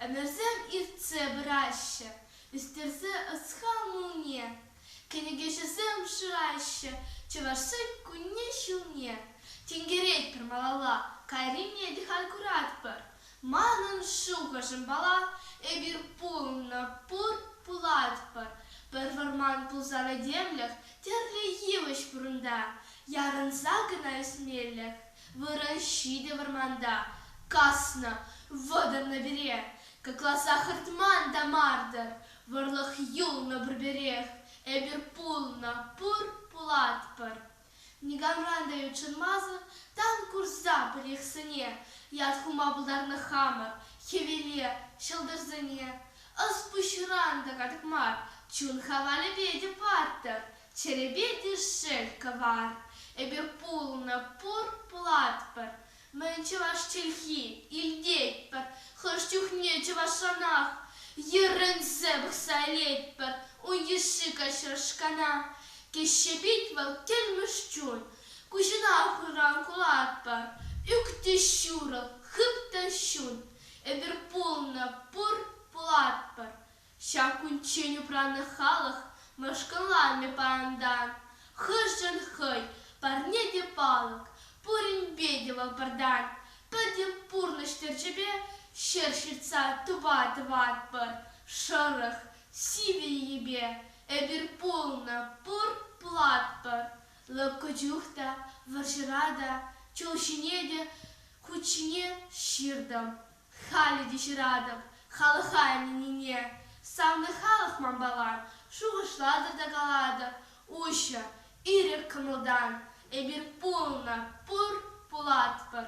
Ӗмӗрсем иртсе пыраҫҫӗ, ӳстерсе ӑс-хал мулне. Кӗнекеҫӗсем шыраҫҫӗ Чӑвашсен кунне-ҫулне. Тинкеретпӗр малалла, кайрине те халь куратпӑр. Манӑн шухӑшӑм пала, эпир пулнӑ, пур, пулатпӑр. Пӗр вӑрман пулсан этемлӗх тӗрлӗ йывӑҫ вырӑнта, ярӑнса кӑна ӳсмеллех. Вырӑн ҫитӗ вӑрманта, каснӑ, вӑтӑрнӑ пире. Кӑкласа хӑртман та мар-тӑр, вӑрлӑх юлнӑ пурпӗрех. Эпир пулнӑ, пур, пулатпӑр. никамран та ютшӑнмасӑр тан курса пӗрехсене ят хума пултарнӑ хамӑр хӗвеле ҫӑлтӑрсене. Ӑс-пуҫран та катӑк мар, чун хавалӗпе те паттӑр, чӗрепе те шел кӑвар. Эпир пулнӑ пур, пулатпӑр, Мӗн чӑваш чӗлхи илтетпӗр, хӑш чухне чӑвашранах йӗрӗнсе пӑхса илетпӗр ун йышши каҫрешкана. Теҫҫӗ пит вӑл кӗлмӗш чун. Куҫӑна хуран кулатпӑр, ӳк те ҫурӑл, хып та ҫун. Эпир пулнӑ пур, пулатпӑр Ҫак кунччен упраннӑ халӑх мӑшкӑлланмӗ паянтан. Хӑшӗн хӑй парне те палӑк, пуринпе те вӑпӑртан. Пӗтӗм пурнӑҫ тӗрчипе ҫӗр ҫыртса тупа тӑватпӑр. Шӑрӑх, сивӗ йӗпе эпир пулнӑ, пур-платпӑр. Лӑпкӑ чух та, вӑрҫӑра та, чул ҫине те, хут ҫине ҫыртӑм. Халӗ те ҫыратӑп халӑха ӗненнине. Савнӑ халӑх манпала шухӑшлатӑр та калатӑр, уҫӑ, ирӗк кӑмӑлтан эпир пулнӑ, пур, пулатпӑр.